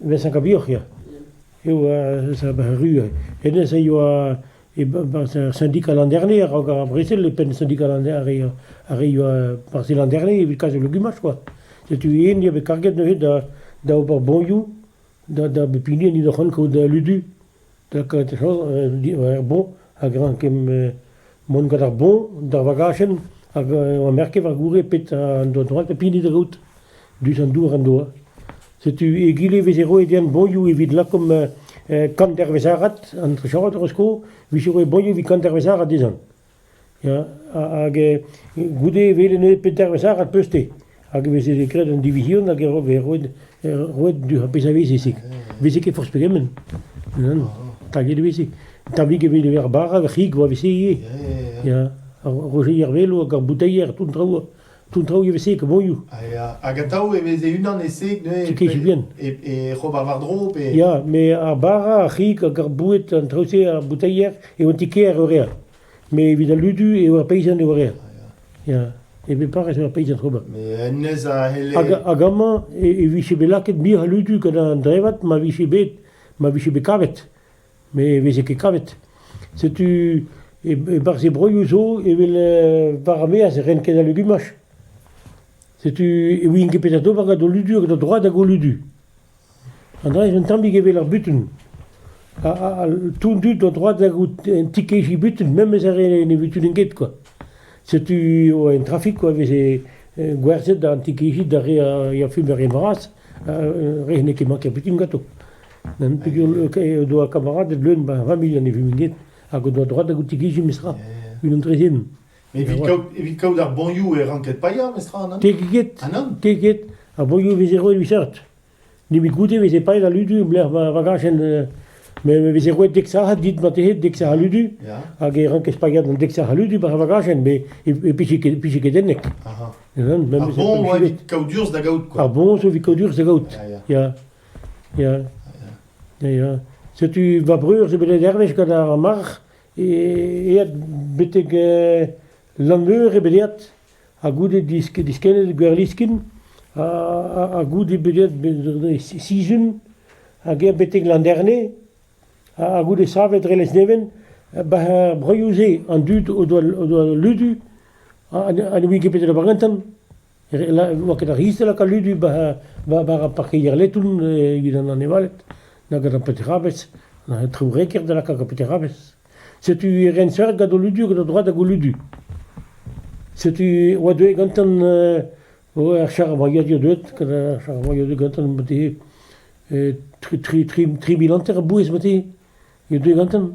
Mesañ kabioc'h ya, eo eus ar Ru. Hennezh a yoa sindikal an Derne a-raok ar brezel, e penn sindikal an Derne, ar re yoa parzhel an Derne evit kas o legumaj kwa. Setu yen eo bet karget neuze da ober boñioù da bep hini en deus o c'hoant kaout ludu. Takad ar boñ hag rank kemm mont gant ar boñ d'ar vagachenn hag ur merket war goude pet an doa droad ha pehini da gaout, dus an dour en doa. Setu egile e veze roet deomp boñioù evit lakaomp kan dervez arat, an trechard hor eus sko, 'vije roet boñioù evit kan dervez arat dezhañ. Ya, hag goude e welen eo pet dervezh arall peuzte hag e veze graet an divizion hag e veze roet roet ar pezh a veze se. Veze ket forzh pegement, nann, taget e veze. Tammig e veze ar bara, ar c'hig 'oa 'vez se ivez, ya, ar rojeier-velo hag ar boutailher, tout an traoù. Tout an traoù e veze e komoioù. Hag atav e veze unan e-seg neuze e c'hob ar war-dro pe... Ya, met ar bara, ar c'hig hag ar boued, an traoù-se, ar bouteier, e oant Ikea eo rea. Mais evit al ludu eo ar peizant eo rea. Ya, e be parrez eo ar peizant ober. Hag amañ e vije bet lakaet mir ludu gant an drevad ma vije bet, ma vije bet kavet. met e veze ket kavet. Setu e-barzh e broioù zo evel war ar maez e rent ket al legumaj. Setu e ouient ket petra d'ober gant o ludu hag o droad hag o ludu. An dra-se un tammig evel ar butun. Tout dud o droad hag un ti-kejiñ butun, memes ar re ne butunin ket quoi. Setu en trafik quoi veze gwerzhet an ti-kejiñ d'ar re a furm ar re vras, re n'eo ket manket butun ganto. N'em doa kamaraded leun ma familh an eviñved hag o doa droad da goutigiziñ memestra, unan trezen. Evit kaout ar bonioù e ranked paeañ memestra an Tegeget, tegeget. Ar bonioù a veze roet evit seurt. Nemet goude e veze paeet al ludu e-lec'h ma vagajent. Me veze roet dek sac'had dit ma tehe dek sac'h a ludu, hag e rankes paeañ an dek sac'h a ludu war ar vagajenn, met e pije ket ennek. Ar bon evit kaout urzh da gaout, quoi. Ar bon evit kaout urzh da gaout, ya. Ya, ya. Setu va breur zo bet dervez gant ar marc'h, eet betek Lanmeur eo bet eet, ha goude diskennet Gwerliskin, ha goude bet eet sizun, hag eet betek Landerne, ha goude savet dre Lesneven, bah er broioù-se an dud o doa ludu ha ne ouie ket petra da bar gantan. ne oa ket ar c'hiz-se lakaat Ludu war ar parkeier leton evit an anevaled, na gant ar petrabez, na an traoù reker da lakaat gant petrabez. Setu ren seurt gant o Ludu, gant o droad hag o Ludu. Setu e oa deuet gantan ar charravoyadur deuet, gant ar charravoyadur gantan tri mil hanter a bouez, e deuet gantan.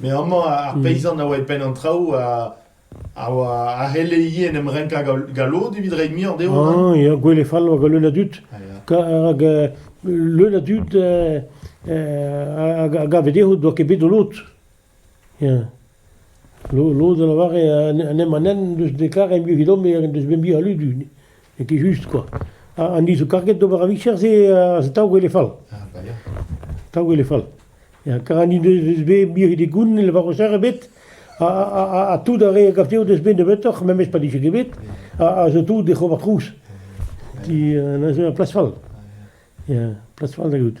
Me amañ, ar peizant a oa e penn an traoù a oa a c'helle ivez en em renkañ galloud evit reiñ muioc'h dezho. Ah ya, gwele fall oa gant leun a dud. Rak leun a dud a gave dezho ne doa ket bet o lod. Ya. Lod a lavare an emañ-henn en deus dekaret emglev-domp en deus bet mui a ludu. N'eo ket just kwa. An dud zo karget d'ober ar vicher-se a daou gwele fall. Daou gwele fall. Kar an dud o deus bet mui de goun ne lavaro ster ebet ha tout ar re a gav dezho o deus bet nebeutoc'h, memes pa dije ket bet, a zo tout oc'h ober trouz. Neuze ur plas fall. Ya, plas fall da gaout.